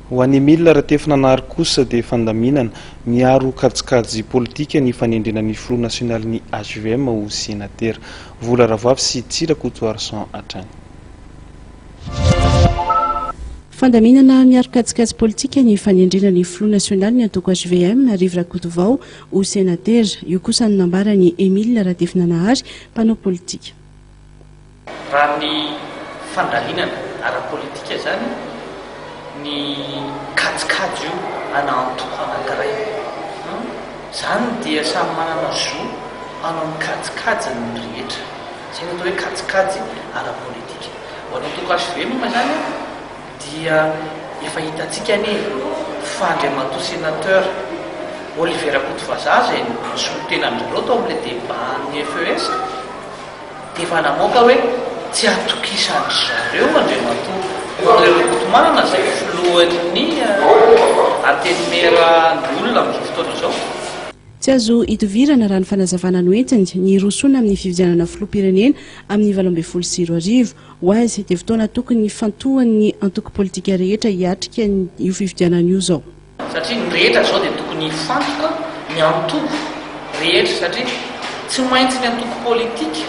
Ho an'i Emile Ratefinanary kosa dia fandaminana, miaro kajikajy politika ny fanendrena ny filoha nasionalin'ny hvm ho senatera. Vola Ravoafy sy Tsy Rakotoarison hatrany. Fandaminana, miaro kajikajy politika ny fanendrena ny filoha nasionalin'ny antoko hvm, Rivo Rakotovao ho senatera. Io kosa no nambaran'i Emile Ratefinanahary, mpanao politika. Raha ny fandalinana ara-politika izany, ny kajikajy io ana antoko anankiray an! Izany dia samy manana zo hanao ny kajikajiny ny rehetra. Izay no atao hoe kajikajy ara-politika. Ho an'ny antoko HV moa izany dia efa hitantsika anie fa Andriamatoa Senateur Olivier Rakotovazaza izay no solontenan'izareo tao amin'ilay débat an'ny FES, Dia efa namoaka hoe tsy atokisan-dry zareo Andriamatoa André Rakotomanga izay filohan'ny Antenimierandoholona amin'izao fotoana izao. Tsy azo idivirana raha ny fanazavana noentiny ny hirosoana amin'ny fifidianana filoham-pirenena amin'ny valo ambin'ny folo sy roa arivo. Ho azy dia fotoana tokony hifantohan'ny antoko politika rehetra hiatrika io fifidianana io izao. Satria ny rehetra izao dia tokony hifantoka ny antoko rehetra satria tsy maintsy ny antoko politika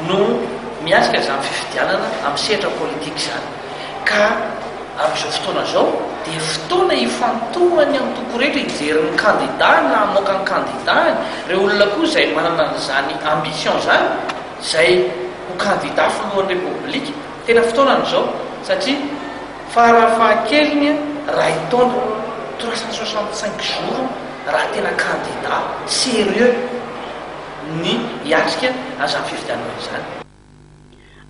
no miatrika izany fifidianana amin'ny sehatra politika izany ka amin'izao fotoana izao dia fotoana hifantohan'ny antoko rehetra hijery ny kandidany na hamoaka ny kandidany, ireo olona koa izay manana an'izany ambition izany izay ho kandida filohan'ny repoblika, tena fotoanany izao satria Farafahakeliny ray taona, trois cent soixante cinq jours, raha tena kandida serieux ny hiatrika an'izany fifidianana izany.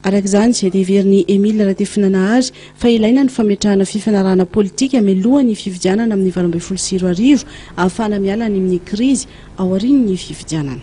Araka izany, dia heverin'i Emile Ratefinanahary fa ilaina ny fametrahana fifanarahana politika mialohan'ny fifidianana amin'ny valo ambin'ny folo sy roa arivo, ahafahana miala any amin'ny krizy aorian'ny fifidianana.